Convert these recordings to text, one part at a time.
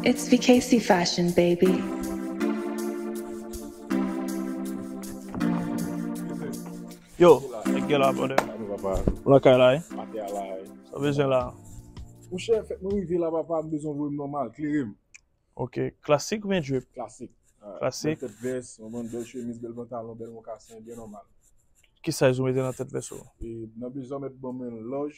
It's Vikacy Fashion baby. Yo, nèg yo la brother. Salve papa. Ou lakay la wi? Mate a la wi. Sa w bezwen la? Monchè, fèt mwen rive la papa, m bezwen voye m nòmal, klere m. Ok, klasik oubyen drip? Klasik. Klasik. Bèl tèt vès, konprann, bèl chemiz, bèl pantalon, bèl mokasen, byen nòmal. Ki size ou mete nan tèt vès ou? Nan bezwen mèt ban mwen lòj.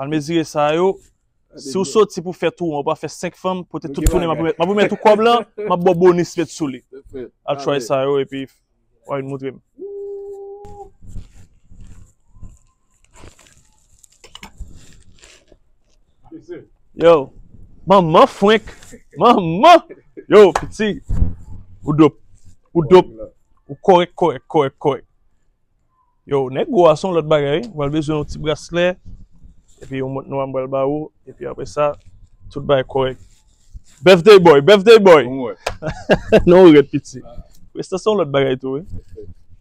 Al mezire sa yo. Si ou soti pou fè tou an, ou pa fè 5 fanm, pote tout tounen, m ap remèt ou kòb lan, m ap ba w bonis met sou li. Al try sa yo epi w a vin moutre m. Yo, manman frenk, manman! Yo, piti, ou dop, ou dop, ou korèk, korèk, korèk, korèk. Yo, nèg gwo a son lòt bagay wi, ou pral bezwen yon ti braslè, epi yon mont nwa m pral ba ou, epi apre sa, tout bagay kòrèk. Birthday boy, birthday boy! Non ou rèd piti. Presta se yon lòt bagay tou wi.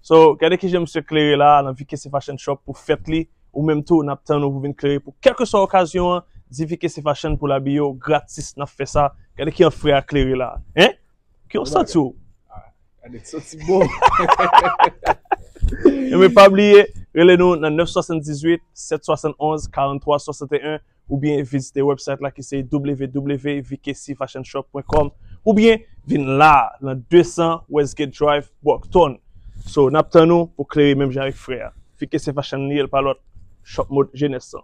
So, gade kijan misye klere la a nan VKC Fashion Shop pou fèt li, ou menm tou nap tann ou pou vin klere pou kèlkeswa okazyon an, di VKC Fashion pou l abiye w gratis nap fè sa, gade kijan frè a klere la a. Hein! Ki w santi w? Gade m santi m bon. Enben pa bliye rele nou nan 978 771 43 61 oubyen vizite website la ki se www.vkcfashionshop.com oubyen vin la nan 200 Westgate Drive Brockton. So nap tann ou pou klere menm jan avèk frè a. Vkc Fashion li ye l pa lòt. Shop mode jenès lan.